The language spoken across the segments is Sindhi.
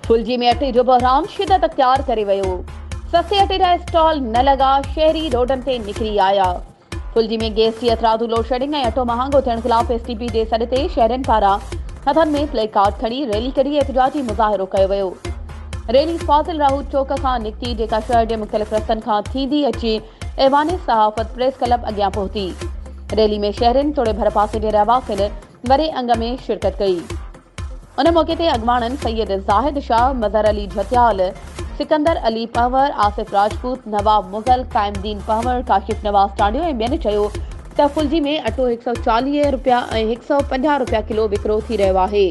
ڦلجي ۾ اٽي جو بحران شدت اختيار ڪري ويو، سسي اٽي جا اسٽال نه لڳا، شهري روڊن تي نڪري آيا. ڦلجي ۾ گئس جي اٿرادو لوڊشيڊنگ ۽ اٽو مهانگو ٿيڻ خلاف ايس ٽي پي جي سڏ تي شهرين پاران هٿن ۾ پليڪارڊ کڻي ريلي ڪڍي احتجاجي مظاهرو ڪيو ويو. ريلي فاضل راهو چوڪ کان نڪتي جيڪا شهر جي مختلف رستن کان ٿيندي اچي ايوان صحافت پريس ڪلب اڳيان پهتي. ريلي ۾ شهرين توڙي ڀرپاسي جي رهواسين وڏي انگ ۾ شرڪت ڪئي. ان موقعي تي اڳواڻن سيد زاهد شاهه، مظهر علي جهتيال، سڪندر علي پنهور، آصف راجپوت، نواب مغل، قائم دين پنهور، ڪاشف نواز ٽانڊيو ۽ ٻين چيو ته ڦلجي ۾ اٽو هڪ سؤ چاليهه رپيا ۽ هڪ سؤ پنجاهه رپيا ڪلو وڪرو ٿي رهيو آهي.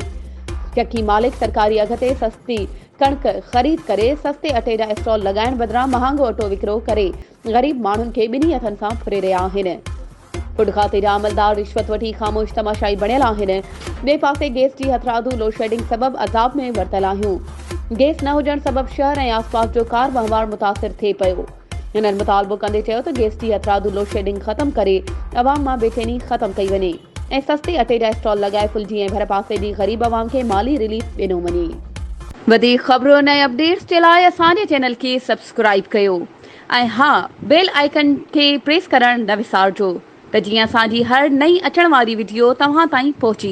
چڪي مالڪ سرڪاري اگهه تي سستي ڪڻڪ خريد ڪري سستي اٽي جا اسٽال لڳائڻ بدران مهانگو اٽو وڪرو ڪري غريب ماڻهن کي ٻنهي هٿن سان ڦري رهيا آهن. فوڊ کاتي جا عملدار رشوت وٺي خاموش تماشائي بڻيل آهن. ٻئي پاسي گيس جي هٿراڌو لوڊشيڊنگ سبب عذاب ۾ ورتل آهيون. گيس نه هجڻ سبب شهر ۽ آسپاس جو ڪار وهنوار متاثر ٿئي پيو. هنن مطالبو ڪندي چيو ته گيس جي هٿراڌو لوڊشيڊنگ ختم ڪري عوام مان بيچيني ختم ڪئي وڃي. ۽ سستي اٽي جا اسٽال لڳائي ڦلجي ۽ ڀرپاسي جي غريب عوام کي مالي رليف ڏنو وڃي. وڌيڪ خبرن ۽ اپڊيٽس جي لاء اسان جي چينل کي سبسڪرائيب ڪيو ۽ ها بيل آئيڪن کي پريس ڪرڻ نه وسارجو ته جيئن اسان جي هر نئين اچڻ واري وڊيو توهان تائين پهچي